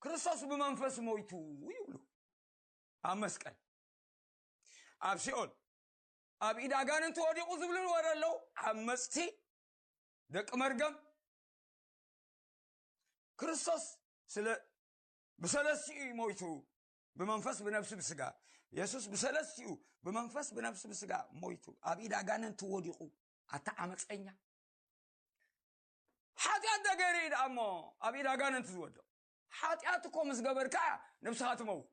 ክርስቶስ ብመንፈስ ሞይቱ ይብሉ ኣብ መስቀል ኣብ ሲኦል ኣብ ኢድ ኣጋንንቲ ወዲቑ ዝብሉ ወረ ኣለዉ ዓመፅቲ ደቂ መርገም ክርስቶስ ስለ ብሰለስትኡ እዩ ሞይቱ ብመንፈስ ብነብሲ ብስጋ የሱስ ብሰለስትኡ ብመንፈስ ብነብሲ ብስጋ ሞይቱ ኣብ ኢድ ኣጋንንቲ ወዲቑ ኣታ ዓመፀኛ ሓጢኣት እንተ ገይሩ እዩ ደኣ እሞ ኣብ ኢድ ኣጋንንቲ ዝወድቕ ሓጢኣት እኮ ምስ ገበርካ እያ ነብስኻ ትመውት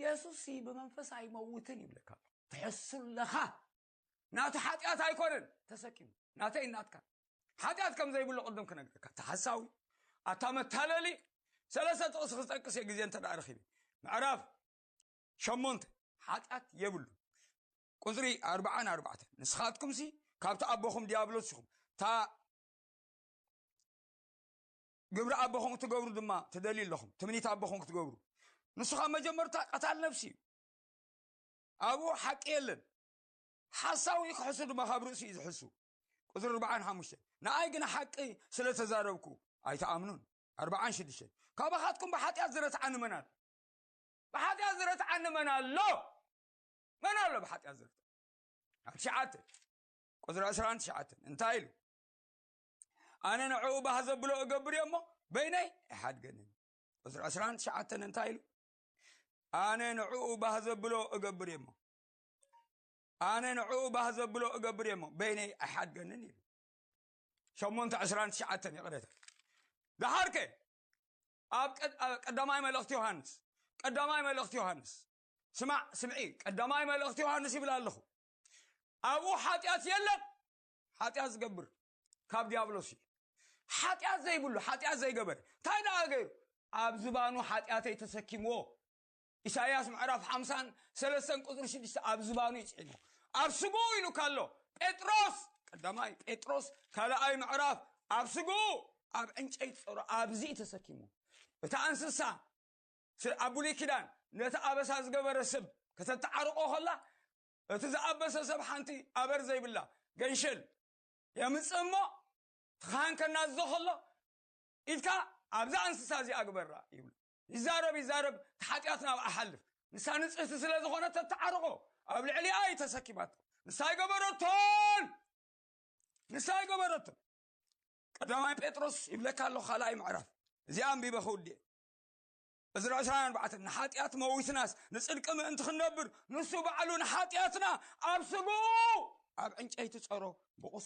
የሱስ ሲ ብመንፈስ ኣይመውትን ይብለካ ኣሎ ትሕሱለኻ ናቱ ሓጢኣት ኣይኮነን ተሰኪሙ ናተይ ናትካ ሓጢኣት ከም ዘይብሉ ቅድም ክነግረካ እቲ ሓሳዊ ኣታ መታለሊ ሰለስተ ጥቕሲ ክጠቅስ እየ ግዜ እንተ ረኺበ ምዕራፍ ሸሞንተ ሓጢኣት የብሉ ቁፅሪ ኣርባዓ ንኣርባዕተ ንስኻትኩም ሲ ካብቲ ኣቦኹም ዲያብሎስ ኢኹም እታ ግብሪ ኣቦኹም እትገብሩ ድማ ትደልዩ ኣለኹም ትምኒት ኣቦኹም ክትገብሩ ንሱ ካብ መጀመርታ ቀታል ነፍሲ እዩ ኣብኡ ሓቂ የለን ሓሳዊ ክሕሱ ድማ ካብ ርእሲ እዩ ዝሕሱ ቁፅሪ ኣርባዓን ሓሙሽተ ንኣይ ግን ሓቂ ስለ ተዛረብኩ ኣይተኣምኑን ኣርባዓን ሽዱሽተን ካባኻትኩም ብሓጢኣት ዝረትዓኒ መን ኣሎ ብሓጢኣት ዝረትዓኒ መን ኣሎ መን ኣሎ ብሓጢኣት ዝርተ ኣብ ትሽዓተ ቁፅሪ ዕስራን ትሽዓተን እንታይ ኢሉ ኣነ ንዕኡ ባህ ዘብሎ እገብር እዮ እሞ በይነይ ኣይሓድገንን ቁፅሪ ዕስራን ትሽዓተን እንታይ ኢሉ ኣነ ንዕኡ ባህ ዘብሎ እገብር እዮ እሞ ኣነ ንዕኡ ባህ ዘብሎ እገብር እዮ እሞ በይነይ ኣይሓድገንን ኢሉ ሸሞንተ ዕስራን ትሽዓተን ይቕረታ ድሓርከ ኣብ ቀ- ኣብ ቀዳማይ መልእኽቲ ዮሃንስ ቀዳማይ መልእኽቲ ዮሃንስ ስማዕ ስምዒ ቀዳማይ መልእኽቲ ዮሃንስ ይብል ኣለኹ ኣብኡ ሓጢኣት የለን ሓጢኣት ዝገብር ካብ ዲያብሎስ እዩ ሓጢኣት ዘይብሉ ሓጢኣት ዘይገበረ እንታይ ደኣ ገይሩ ኣብ ዝባኑ ሓጢኣተይ ተሰኪምዎ ኢሳይያስ ምዕራፍ ሓምሳን ሰለስተን ቁፅሪ ሽዱሽተ ኣብ ዝባኑ ይፅዒሞ ኣብ ስግኡ ኢሉ ካሎ ጴጥሮስ ቀዳማይ ጴጥሮስ ካልኣይ ምዕራፍ ኣብ ስግኡ ኣብ ዕንጨይቲ ፀሮ ኣብዚ ተሰኪሙ እታ እንስሳ እቲ ኣብ ብሉይ ኪዳን ነቲ ኣበሳ ዝገበረ ስብ ከተተዓርቆ ከላ እቲ ዝኣበሰ ሰብ ሓንቲ ኣበር ዘይብላ ገንሸል የምጽእ እሞ እቲ ካህን ከናዝዞ ከሎ ኢድካ ኣብዛ እንስሳ እዚኣ ግበራ ይብሉ ይዛረብ ይዛረብ እቲ ሓጢኣት ናብ ኣሓልፍ ንሳ ንጽህቲ ስለ ዝኾነት ተተዓርቆ ኣብ ልዕሊኣ እዩ ተሰኪማቶ ንሳ ኣይገበረቶን ንሳ ኣይገበረቶን ቀዳማይ ጴጥሮስ ይብለካ ኣሎ ካልኣይ ምዕራፍ እዚኣ ኣንቢበ ክውድእ እዚ ናይ ዕስራውያን በዓትን ንሓጢኣት መዊትናስ ንጽድቂ ምእንቲ ክንነብር ንሱ ባዕሉ ንሓጢኣትና ኣብ ስግኡ ኣብ ዕንጨይቲ ጸሮ ብቑስ